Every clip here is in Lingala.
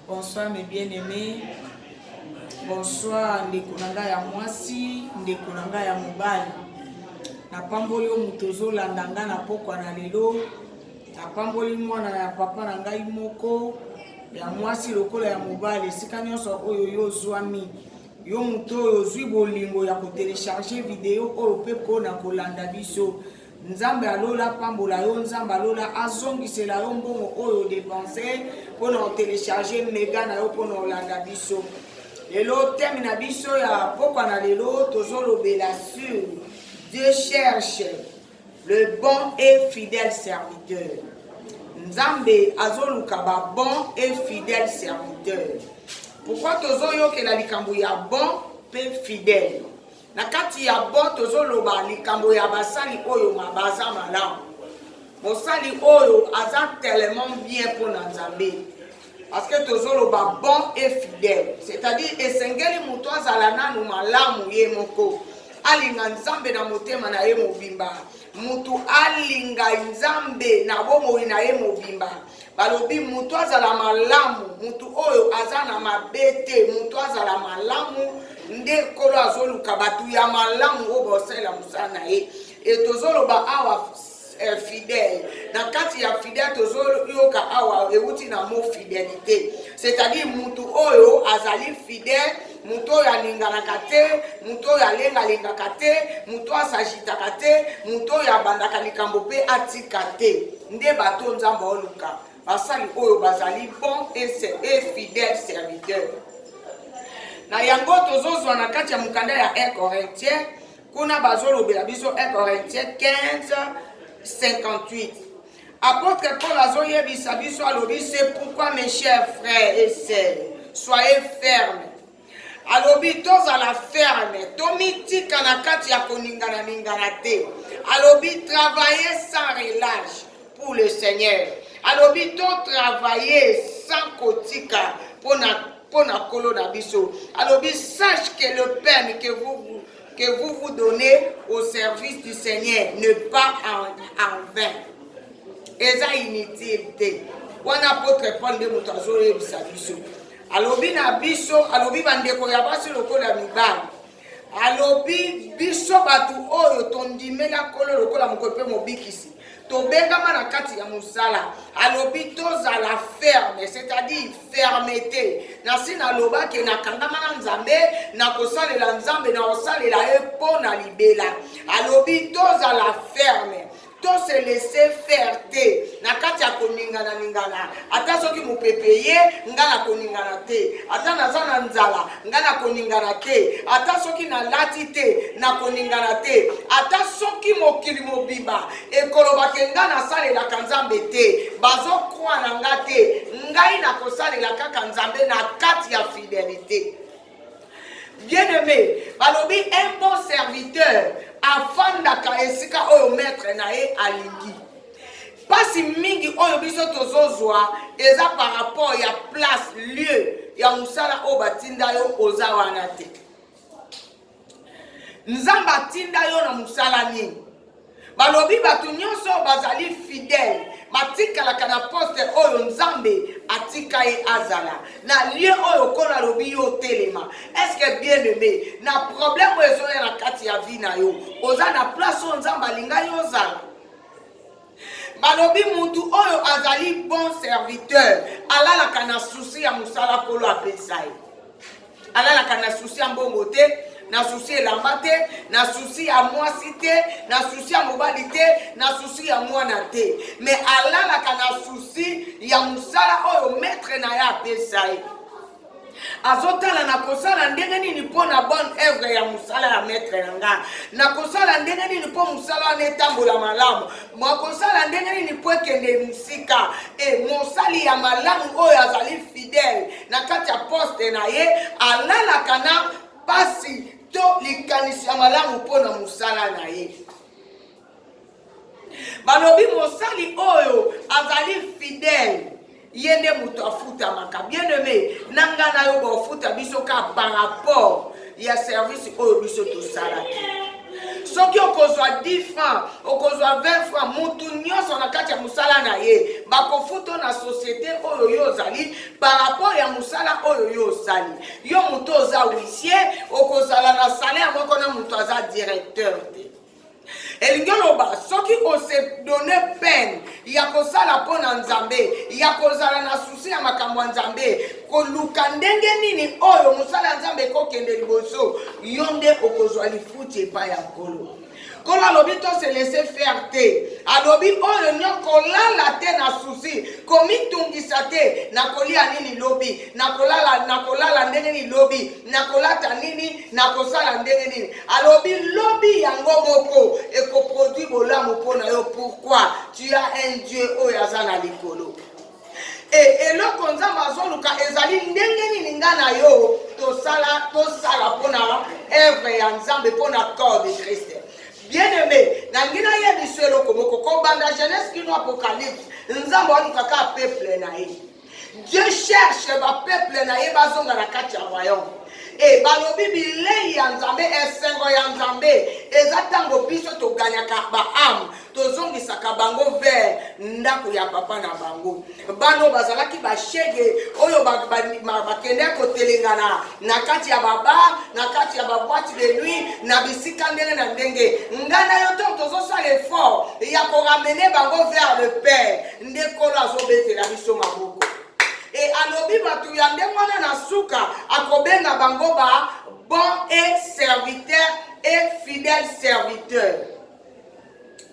Bonsoir mes bien aimés. Bonsoir ndeko na ngai ya mwasi, ndeko na ngai ya mobali. Napamboli yo moto ozolanda ngai na pokwa na lelo. Napamboli mwana ya papa na ngai moko ya mwasi lokola ya mobali, esika nyonso oyo yo ozwami. Yo moto oyo ozwi bolingo ya kotelecharge video oyo mpe mpona kolanda biso Nzambe ya lola apambola yo, Nzambe ya lola azongisela yo mbongo oyo odepense mpo na otelecharge mega na yo mpo na olanda biso. Lelo teme na biso ya pokwa na lelo tozolobela sur Dieu cherche le bon et fidèle serviteur. Nzambe azoluka ba bon et fidèle serviteur. Pourquoi tozoyokela likambo ya bon mpe fidèle? Na kati ya bo tozo loba likambo ya basali oyo ma baza malamu. Mosali oyo aza tellement bien mpo na Nzambe. Parce que tozo loba bon et fidèle. C'est-à-dire esengeli moto azala nanu malamu ye moko. Alinga Nzambe na motema na ye mobimba. Moto alinga Nzambe na bomoi na ye mobimba. balobi moto azala malamu moto oyo aza na mabe te moto azala malamu nde nkolo azoluka bato ya malamu oyo baosalela mosala na ye e tozoloba awa eh, fidèle na kati ya fidèle tozoyoka awa euti na mo fidelité c'est-à-dire mutu oyo azali fidèle moto oyo aninganaka te moto oyo alengalengaka te moto oyo asagitaka te moto oyo abandaka likambo mpe atika te nde bato nzambe oluka basali oyo bazali bon et fidèle serviteur na yango tozozwa na kati ya mokanda ya 1 corintien kuna bazolobela biso 1 corintien 15 58 Apôtre Paul azoyebisa biso alobi c'est pourquoi mes chers frères et sœurs soyez ferme alobi tozala ferme tomitika na kati ya koningana ningana te alobi travailler sans relâche pour le seigneur alobi totravaille sans kotika mpo na nkolo na biso alobi sache que le peine que vous que vous vous donnez au service du Seigneur, ne pas en, en vain. eza inutile te wana apotre paul nde moto azoyebisa biso alobi na biso alobi bandeko ya basi lokola mibali alobi biso bato oyo tondimela nkolo lokola mokolo mpe mobikisi tobengama na kati ya mosala alobi tozala ferme c'est-à-dire fermete nasi naloba ke nakangama na nzambe nakosalela nzambe nakosalela ye mpo na libela alobi tozala ferme to se laisse faire te na kati ya koningana ningana ata soki mopepe ye nga na koningana te ata naza na nzala nga nakoningana te ata soki nalati te nakoningana te ata soki mokili mobimba ekolobake nga nasalelaka nzambe te bazokwa na nga te ngai nakosalela kaka nzambe na kati ya fidelite bien aimé balobi un bon serviteur afandaka esika oyo maître na ye alingi Pasi mingi oyo biso tozozwa eza par rapport ya place lieu ya mosala oyo batinda yo oza wana te nzambe atinda yo na mosala nini balobi bato nyonso bazali fidèle batikalaka na poste oyo nzambe atika ye azala na lie oyo okolo alobi yo otelema estce bien aime na problème oyo ezoya na kati ya vie na yo oza na place oyo nzambe alinga yo ozala balobi mutu oyo azali bon serviteur alalaka na susi ya mosala kolo apesa ye alalaka na susi ya mbongo te na susi elamba te na susi ya mwasi te na susi ya mobali te na susi ya mwana te me alalaka na susi ya mosala oyo metre na ye apesa ye azotala nakosala ndenge nini mpo na bonne œuvre ya mosala ya maître na nga nakosala ndenge nini mpo mosala wana etambola malamu makosala ndenge nini mpo ekende mosika e mosali ya malamu oyo azali fidèle na kati ya poste na ye alalaka na mpasi to likanisi ya malamu mpo na mosala na ye balobi mosali oyo azali fidèle ye nde moto afutamaka bien aimé na ngai na yo baofuta biso ka par rapport ya service oyo biso tosalaki soki okozwa 10 franc okozwa 20 franc motu nyonso na kati ya mosala na ye bakofuto na societe oyo yo ozali par rapport ya mosala oyo yo osali yo motu oza huissier okozala na salaire moko na moto aza directeur te elingi oloba soki ose donne peine ya kosala mpo na nzambe ya kozala na susi ya makambo ya nzambe koluka ndenge nini oyo mosala ya nzambe ekokende liboso yo nde okozwa lifuti epai ya nkolo nkolo alobi tose laisse faire te alobi oyo nyo kolala te na susi komitungisa te na kolia nini lobi na kolala na kolala ndenge nini lobi na kolata nini nakosala ndenge nini alobi lobi yango moko ekoproduit bolamu mpo na yo pourkui tu as un dieu oyo aza na likolo e eloko nzambe azoluka ezali ndenge nini nga na yo tosala tosala mpo na evre ya nzambe mpo na corps de christ bien aimé nangi nayebisa eloko moko kobanda genèse kino apocalypse nzambe aluka kaka peuple na ye Dieu cherche ba peuple na ye bazonga na kati ya royaume e balobi bilei ya nzambe esengo ya nzambe eza ntango biso toganyaka baame tozongisaka bango vers ndako ya papa na bango bano bazalaki bashege oyo bakende kotelengana na kati ya babar na kati ya babwati de nuit na bisika ndenge na ndenge ngai na yo ntango tozosala effort ya koramene bango vers le père nde nkolo azobetela biso maboko e alobi bato ya ndenge wana na suka akobenga bango ba bon et serviteur et fidèle serviteur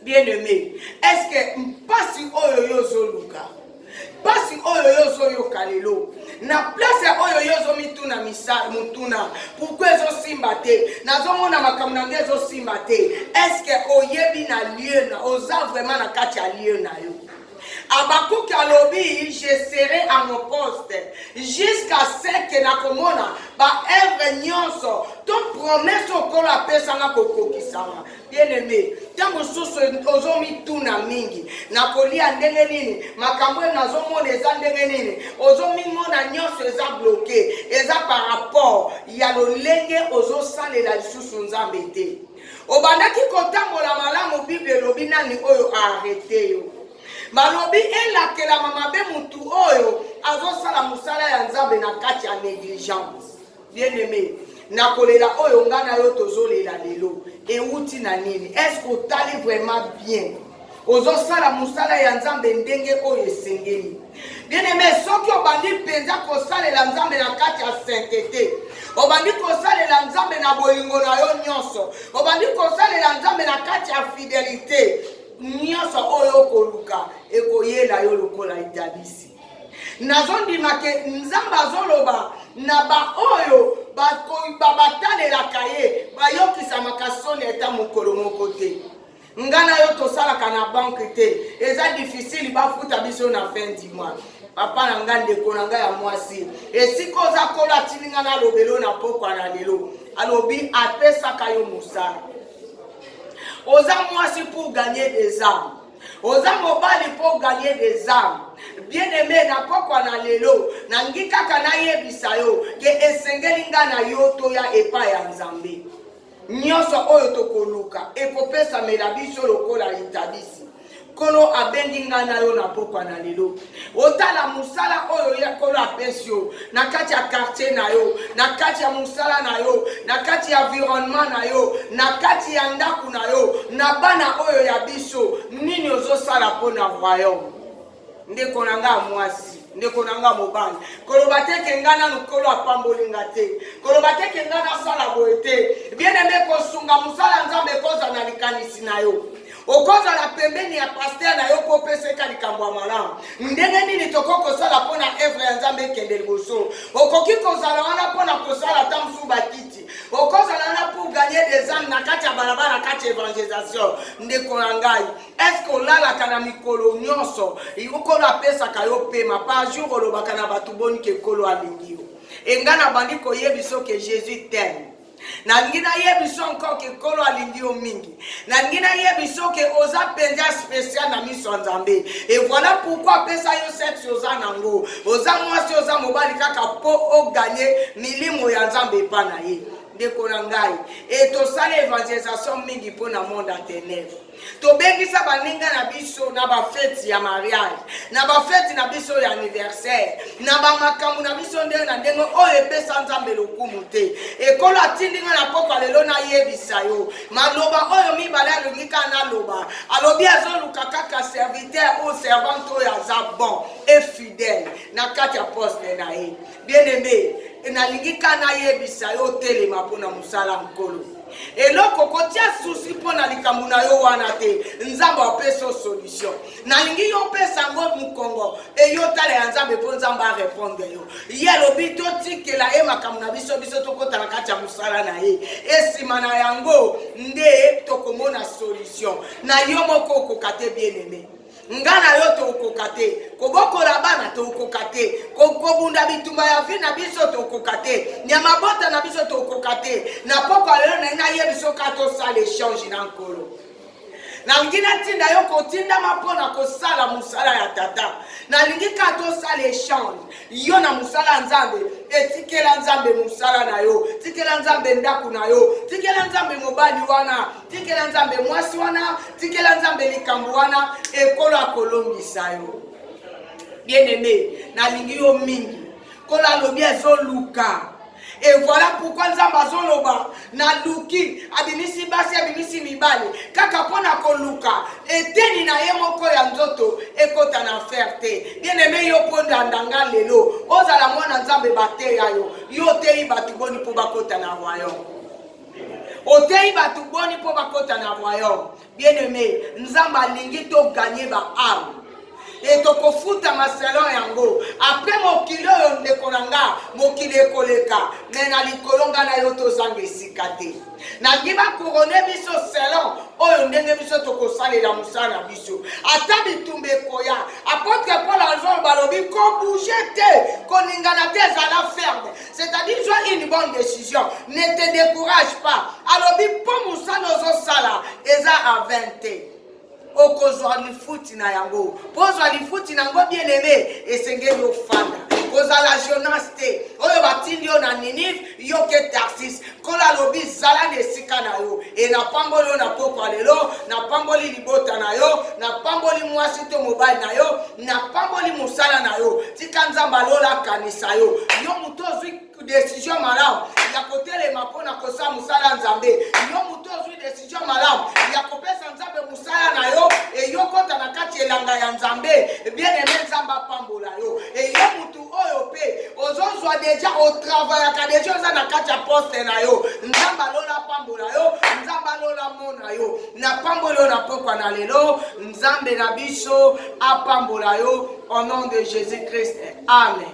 bien aimé est ce que mpasi oyo yo ozoluka mpasi oyo yo ozoyoka lelo na place ya oyo yo ozomituna misala motuna pourkui ezosimba te nazomona makambo na nde ezosimba te estce oyebi na lieu na oza vraiment na kati ya lieu na yo abakuki alobi je serai à mon poste jusqu'à ce que nakomona baevre nyonso to promese okolo apesanga kokokisama bien-aime ntango mosusu ozomituna mingi nakolia ndenge nini makambo oyo nazomona eza ndenge nini ozomimona nyonso eza bloke eza par rapport ya lolenge ozosalela lisusu nzambe te obandaki kotambola malamu bible elobi nani oyo aarete yo balobi elakelama mabe motu oyo azosala mosala ya nzambe na kati ya negligence Bien aime, na kolela oyo nga na yo tozolela lelo ewuti na nini? Est-ce que otali vraiment bien? ozosala mosala ya nzambe ndenge oyo esengeli bieneme soki obandi mpenza kosalela nzambe na kati ya saintete obandi kosalela nzambe na bolingo na yo nyonso obandi kosalela nzambe na kati ya fidelite nyonso oyo okoluka ekoyela yo lokola etalisi nazondima ke nzambe azoloba na baoyo batalelaka ye bayokisamaka soni ata mokolo moko te nga na yo tosalaka na banke te eza difficile bafuta biso na fin du mois papa na ngai ndeko na ngai ya mwasi esika oza kola atindi ngai nalobelo na pokwa na lelo alobi apesaka yo mosala oza mwasi pour gagner des armes oza mobali mpo gagne des armes bien aime na pokwa na lelo nangi kaka nayebisa yo ke esengeli nga na yo toya epai ya nzambe nyonso oyo tokoluka ekopesamela biso lokola litabisi nkolo abengi nga na yo na pokwa na lelo otala mosala oyo ya nkolo apesi yo na kati ya kartier na yo na kati ya mosala na yo na kati ya environnement na yo na kati ya ndako na yo na bana oyo ya biso nini ozosala mpo na royaume ndeko na ngai ya mwasi ndeko na nga mobali koloba te ke nga nanu nkolo apamboli nga te koloba te ke nga nasala boye te bien aime kosunga mosala nzambe ekozala na likanisi na yo okozala pembeni ya paster na yo mpo opesa eka likambo ya malamu ndenge nini tokoki kosala mpo na evre ya nzambe ekende liboso okoki kozala wana mpo na kosala ta mosusu bakiti okozala wana pour gagner des âmes na kati ya balabala kati ya evangelisation ndeko na ngai eske olalaka na mikolo nyonso okolo apesaka yo pema par jour olobaka na bato boni ke kolo alingi yo enga na bandi koyebi soki jesus teme nalingi nayebisa onko ke nkolo alingi yo mingi nalingi nayebisa oke oza mpenza spesial na miso ya nzambe e voilà pourkui apesa yo sexe oza nango oza mwasi oza mobali kaka mpo oganye milimo ya nzambe epa na ye ndeko na ngai e tosala evangelisation mingi mpo na monde ya tenèbre tobengisa baninga na biso na bafeti ya mariage na bafeti na biso ya aniversaire na bamakambo na biso ndenge na ndenge oyo epesa nzambe lokumu te ekolo atindi nga na pokwa lelo nayebisa yo maloba oyo mibale alingi kaka naloba alobi azoluka kaka serviteur oyo servante oyo aza bon e fidèle na kati ya poste na ye bien aime nalingi ka nayebisa yo otelema mpo na mosala nkolo eloko kotia susi mpo na likambo na yo wana te nzambe apesa yo solution nalingi yo opesa yango mokongo eyo tala ya nzambe mpo nzambe arepondre yo ye alobi totikela ye makambo na biso biso tokota na kati ya mosala na ye esima na yango nde tokomona solution na yo moko okoka te bien aime nga na yo tokoka te kobokola bana tokoka te kobunda bitumba ya vi na biso tokoka te ya mabota na biso tokoka te na pokwa lelo na nayebi soka tosala echange na nkolo nalingi natinda yo kotindama mpo na kosala mosala ya tata nalingi ka tosala echange yo na mosala ya nzambe etikela nzambe mosala na yo tikela nzambe ndako na yo tikela nzambe mobali wana tikela nzambe mwasi wana tikela nzambe likambo wana ekolo akolongisa yo bien aime nalingi yo mingi nkolo alobi azoluka e voilà pourquoi nzambe azoloba naluki abimisi basi abimisi mibale kaka mpo na koluka eteni na ye moko ya nzoto ekota na affaire te bien aime yo mpo ndandanga lelo ozala mwana nzambe bateya yo yo oteyi bato boni mpo bakota na royaume oteyi bato boni mpo bakota na royaume bien aime nzambe alingi toganye baame e tokofuta maselo yango apres mokili oyo ndeko na nga mokili ekoleka me na likolo nga na yo tozanga esika te nalingi bakurone biso selon oyo ndenge biso tokosalela mosala na biso ata bitumba ekoya apotre paul azolo balobi kobouge te koningana te ezala ferme c'est-à-dire zwa une bonne décision ne te décourage pas alobi mpo mosala ozosala eza a 20 te okozwa lifuti na yango mpo ozwa lifuti na yango bien aimé esengeli ofanda kozala jonas te oyo batindi yo na ninive yo ke tarsis Nkolo alobi, zala na esika na yo. E, napamboli yo na pokwa lelo, napamboli libota na yo, napamboli mwasi to mobali na yo, napamboli mosala na yo. Tika Nzambe alola akanisa yo. Yo moto ozwi desizio malamu ya kotelema mpo na kosala mosala ya Nzambe. Yo moto ozwi desizio malamu ya kopesa Nzambe mosala na yo, eyokota na kati elanga ya Nzambe. Bien-aime, Nzambe apambola yo. Eyo moto oyo mpe ozozwa deja otravayaka deja oza na kati ya poste na yo nzambe alola apambola yo nzambe alola mona yo napamboli yo na pokwa na lelo nzambe na biso apambola yo au nom de jésus christ amen